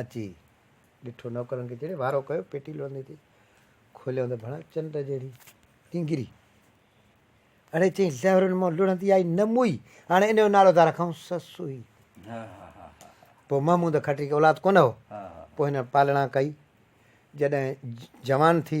اچي ڏٺو نوڪرن کي جهڙي وارو ڪيو پيٽي لوندي تي کوليو ته ڀڻا چنڊ جهڙي ٽينگري اڙي چئي زهرن مان لڙندي آئي نه موئي هاڻي ان جو نالو ٿا رکون سسوئي پوء محمود کٽري کي اولاد ڪونه هو پوء هن پالڻا ڪئي جڏهن جوان ٿي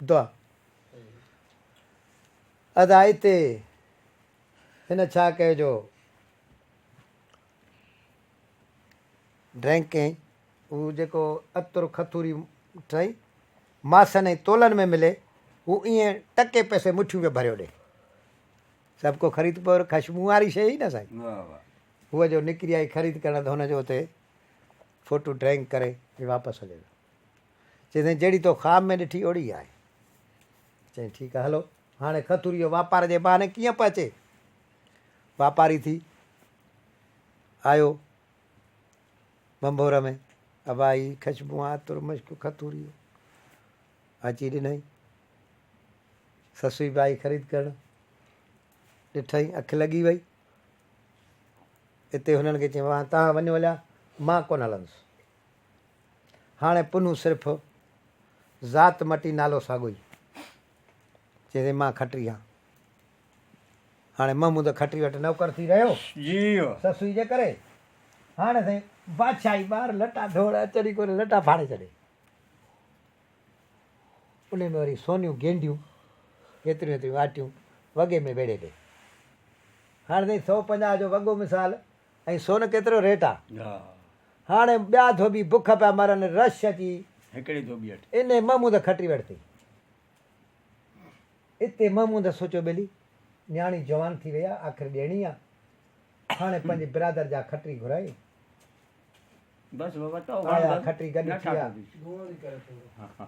دعا ادائي تي هن ڇا ڪيو جو ڊرنڪ ڪيائين هو جيڪو عطر کٿوري ٽئي ماسن ۽ تولن ۾ ملي هو ائين ٽڪي پيسي مٺيون پيو ڀريو ڏي سڀ کو خريد پور خشبو واري شيء نه سائين هو جو نڪري آئي خريد ڪرڻ ته هن جو اتي فوٽو ڊرنڪ ڪري واپس هلي ويو چيس ته جهڙي تو خواب ۾ ڏٺي اهڙي ئي آهي. چيائين ٺيڪ آهي هلو. هاڻي خطوري جو واپار جي بهاني ڪيئن پهچي؟ واپاري ٿي آيو ڀنڀور ۾ ابا هي خشبون عطر مشڪ خطوري جو اچي ڏنائين. سسوئي به آئي خريد ڪرڻ ڏٺائين اک لڳي وئي. اتي هنن کي چيائين وهان تهان وڃو هليا مان ڪونه هلندس. هاڻي پنهون صرف ذات مٽي نالو ساڳوئي چي ٿي مان کٽري هان هاڻي محمود کٽري وٽ نوڪر ٿي رهيو سسئي جي ڪري هاڻي سائين بادشاهي ٻار لٽا ڍوڙ اچن ئي ڪونه لٽا ڦاڙي ڇڏي ان ۾ وري سونيون گينڊيون هيتريون هيتريون آٽيون وڳي ۾ ويڙهي ڏي هاڻي سائين سؤ پنجاهه جو وڳو مثال ۽ سون ڪيترو ريٽ آ. هاڻي ٻيا ڌوٻي بک پيا مرن رش اچي هڪڙي ڌوٻي هٺ. انهي محمود کٽي وٺتي. اتي محمود سوچيو ٻيلي نياڻي جوان ٿي وئي آ آخر ڏيڻي آ هاڻي پنهنجي برادر جا کٽري گهرائي بس بابا تو وڻ آيا بس کٽري گڏ نه ٿيا ٺاڪو ٿي.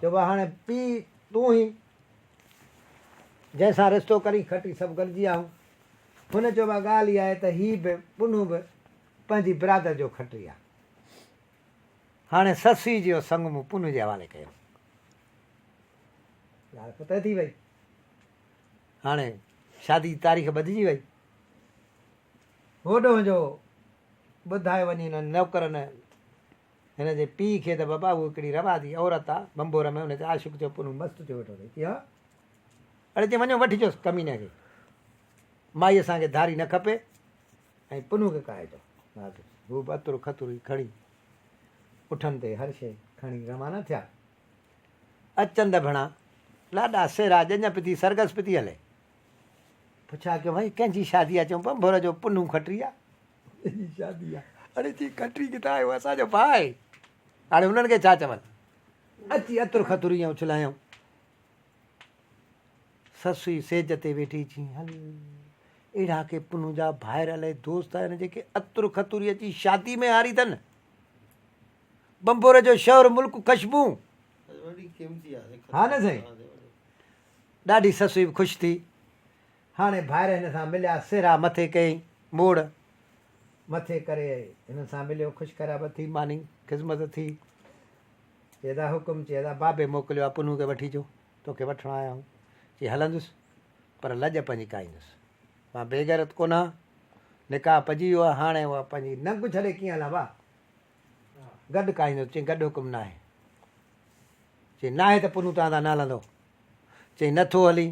چئبو آ هاڻي پي تون هي جنهن سان رشتو ڪرين کٽري سڀ گڏجي آهون هن چيو اها ڳالهه ئي آهي ته هي به پنهون به پنهنجي برادر جو کٽري آهي. هاڻي سسئي جي اهو سڱ مون پنهون جي حوالي ڪيو. ڳالهه فتح ٿي وئي. هاڻي شادي جي تاريخ ٻڌجي وئي. هوڏهن جو ٻڌايو وڃي هنن نوڪرن هن جي پيء کي ته بابا هوء ڪهڙي رواجي عورت آ، ڀنڀور ۾ هن جي عاشق جو پنهون مست ٿيو ويٺو اٿئي. ڪيا؟ اڙي چيائين وڃو وٺجوس ڪميني کي. مائي اسان کي ڌاري نه کپي ۽ پنهون کي ڪاهي ٿو. ناصر هو به عطر خطر ئي کڻي اٺن تي هر شيء کڻي روانا ٿيا. اچند ڀڻا لاڏا سيرا ڄڃ پتي سرگس پتي هلي. پڇا ڪيو ڀائي ڪنهن جي شادي آ؟ چيائون ڀنڀور جو پنهون کٽري آ. جي شادي آ اڙي چي ڪٽري ڪٿان آيو اسان جو ڀاء آهي هاڻي هنن کي ڇا چون اچي اتر خطر ايئن اڇلايائون سسوي سيج تي ويٺي چي هل اهڙا ڪي پنهون جا ڀائر الائي دوست آهن جيڪي اتر خطوري اچي شادي ۾ هاري اٿن بمبور جو شهر ملڪ خشبو ها نه سائين ڏاڍي سسوي خوش ٿي هاڻي ڀائر هن سان مليا سهرا مٿي ڪيئي موڙ مٿي ڪري ائي هنن سان مليو خوش خيرابت ٿي ماني خذمت ٿي چي دا حڪم چي دا بابي موڪليو آ پنهون کي وٺي جو توکي وٺڻ آيا آهون چي هلندس پر لڄ پنهنجي ڪائيندس مان بيغيرت ڪونه آ نڪاح پجي ويو آ هاڻي اها پنهنجي ننگ ڇڏي ڪيئن هلان وا گڏ ڪائيندس چي گڏ حڪم ناهي چي ناهي ته پنهون تان تان نه هلندو چي نٿو هلين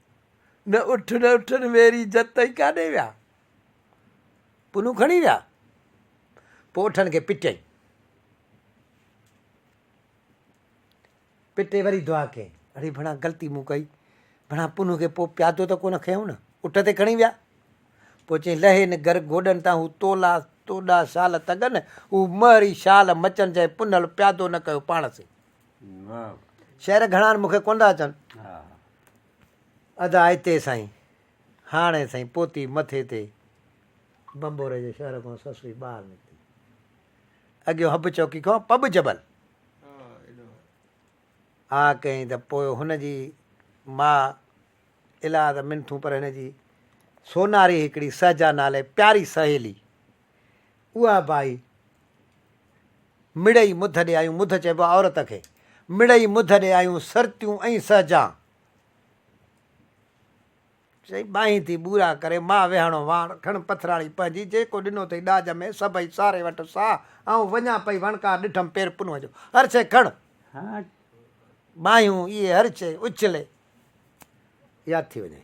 نه اٺ نه اٺن ويري جت تائين ڪاڏي ويا پنون کڻي ويا پوء اٺن کي پٽيائين پٽي وري دعا ڪئي اڙي ڀڻا غلطي مون ڪئي ڀڻا پنو کي پوء پيادو ته ڪونه کنيو نه اٽ تي کڻي ويا پوء چئي لهي نه گھر گوڏن تان هو تولا توڏا شال تڳن هو مهري شال مچن جنهن پنل پيادو نه ڪيو پاڻ سي شعر گهڻا مون کي ڪونه ٿا اچن. ادا هتي سائين هاڻي سائين پوتي مٿي تي. بنبوري جي شهر کان سسوي ٻاهر نڪتي. اڳيو حب چوڪي کان پٻ جبل. آ ڪيائين ته پوء هن جي ماء الاء ته منٿون پر هن جي سوناري هڪڙي سهجا نالي پياري سهيلي. اها بائي مڙئي مڌ ڏيائيون، مڌ چئبو آهي عورت کي، مڙئي مڌ ڏيائيون، سرتيون ۽ سهجان. چئي ٻانهين ٿي ٻورا ڪري، ماء ويهاڻو واڻ، کڻ پٿراڻي پنهنجي، جيڪو ڏنو اٿئي ڏاج ۾، سڀئي ساري وٺ ساهه، آئون وڃان پئي وڻڪار، ڏٺم پير پنهون جو، هر شيء کڻ، ٻانهيون اهي هر شيء اڇلي، ياد ٿي وڃئي.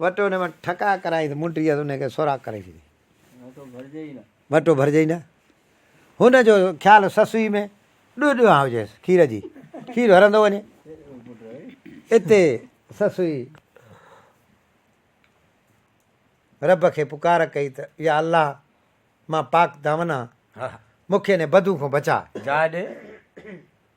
وٽو ان مان ٺڪاء ڪرائين ته منڊيء تي ان کي سوراخ ڪري ڇڏي. وٽو ڀرجي ئي نه. هن جو خيال سسوئي ۾ ڏوهه ڏوهان هجيس کير جي. کير هرندو وڃي. اتي سسوئي رب کي پڪار ڪئي ته يا الله مان پاڪ دامن آهان، مون کي ان بدوء کان بچاء. جاء ڏي.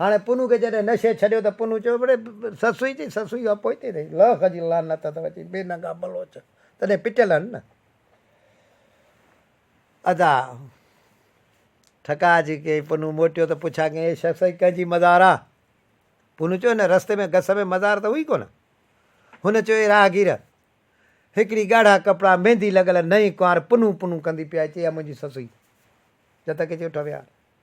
هاڻي پنهون کي جڏهن نشي ڇڏيو ته پنهون چيو بڙي سسئي چي سسئي کان پوئتي رهي لاک جي لعنت اٿو چي بي ننگا بلوچ تڏهن پٽيل هن نه ادا ٺڪاء جي ڪئي پنهون موٽيو ته پڇا ڪئين هي سسئي ڪنهن جي مزار آ پنهون چيو هن رستي ۾ گس ۾ مزار ته هئي ڪونه هن چيو اي راهگير هڪڙي ڳاڙها ڪپڙا ميندي لڳل نئين ڪنوار پنهون پنهون ڪندي پيا چي اها منهنجي سسئي جتڪي چيو ٺويار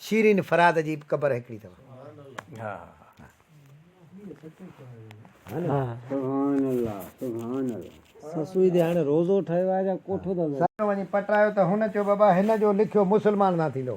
شيرين فرهاد جي به قبر هڪڙي اٿو. سڄڻ وڃي پٽرايو ته هن چيو بابا هن جو لکيو مسلمان نه ٿيندو.